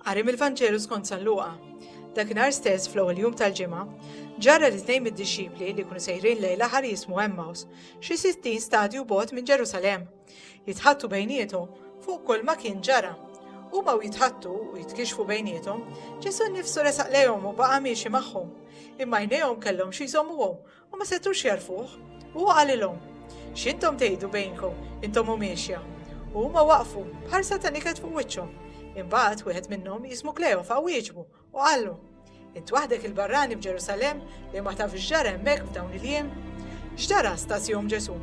Qari mill-Vanġelu skont San Luqa. Dakinhar stess fl-ewwel jum tal-ġimgħa, ġarra li tnejn mid-dixxipli li jkunu sejrin lejn l-aħar jismu Emmaus, xi sittin stadju bot minn Ġerusalemm, jitħattu bejniethom fuq kull ma kien ġara. Huma u jitħattu u jitkixfu bejniethom, Ġesu nnifsu resaq lejhom u baqa' miexi magħhom, imma jnejhom kellhom xi jżommuhom U ma setgħux jagħrfuh. U hu qalilhom, X'intom tgħidu bejnkom, intom u miexja? U huma waqfu, b'ħarsa ta' niket fuq wiċċhom. Imbagħad wieħed minnhom, jismu Kleofa, wieġbu, u qallu, Int waħdek il-barrani f'Ġerusalemm li ma tafx x'ġara hemmhekk f'dawn il-jiem? X'ġara stas jom Ġesù?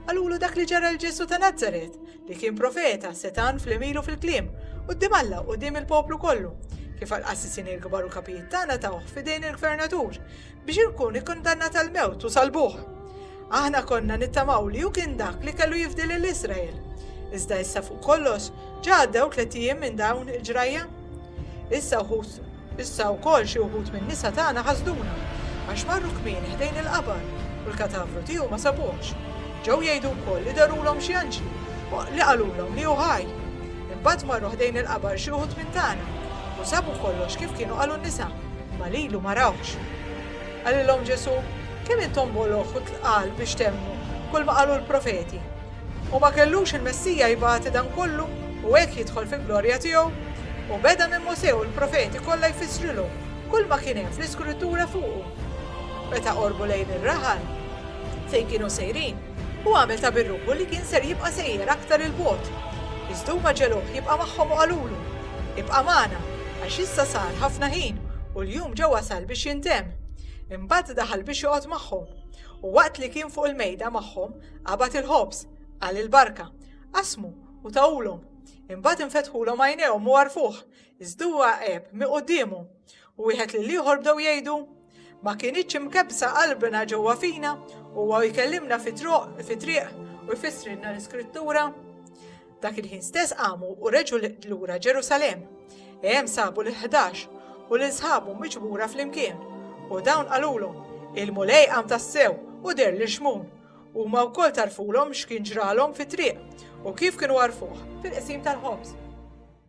Qalulu dak li ġara l-Ġesù ta' Nazaret, li kien profeta, setan fl-emilu fil-kliem, u d Alla u dim il-poplu kollu, kif għal-qassisin il-kbar u kapijiet tagħna tawh f'idejn il-gvernatur, biex ikun ikkundannat għal mewt u salbuh. Aħna konna nittamaw li hu kien dak li kellu jifdi lil Iżrael. Iżda issa fuq kollox ġa għaddew tliet ijiem minn dawn il-ġrajja. Issa wħud issa wkoll xi wħud minn nisa tagħna ħasduna għax marru kmin ħdejn il-qabar u l-katavru tiegħu ma sabuhx. Ġew jgħidu wkoll li darulhom xi anġli li qalulhom li hu ħaj. Imbagħad marru ħdejn il-qabar xi wħud minn tagħna u sabu kollox kif kienu qalu n-nisa. Imma lilu ma rawhx. Qalilhom Ġesù, Kemm intom boloh u tqal biex temmnu kulma qalu l-profeti! U ma kellux il-Messija jbati dan kollu u hekk jidħol fil-glorja tiegħu? U beda minn Mosè u l-profeti kollha jfissrilhom kulma kien hemm fl-Iskrittura fuqu. Meta qorbu lejn ir-raħal fejn kienu sejrin, Hu għamel ta' birruħu li kien ser jibqa' sejjer aktar 'il bogħod. Iżda huma ġegħluh jibqa' magħhom u qalulu, Ibqa' magħna, għax issa sar ħafna ħin u l-jum ġa wasal biex jintemm. Imbagħad daħal biex joqgħod magħhom. U waqt li kien fuq il-mejda magħhom, qabad il-ħobż, qal il-barka, qasmu u tahulhom. Imbagħad infetħulhom għajnejhom u għarfuh, iżda huwa għeb miquddiemhom. U wieħed lill-ieħor bdew jgħidu, Ma kinitx imkebbsa qalbna ġewwa fina, huwa jkellimna fit-triq u jfissrilna l-Iskrittura? Dak il-ħin stess qamu u reġu lura Ġerusalem. Hemm sabu l-ħdax u lil sħabu miġbura flimkien. U dawn qalulhom, il-Mulej qam tassew u der lil Xmun. Huma wkoll tarfulhom x'kien ġralhom fit-triq u kif kienu għarfuh fil-qsim tal-ħobż.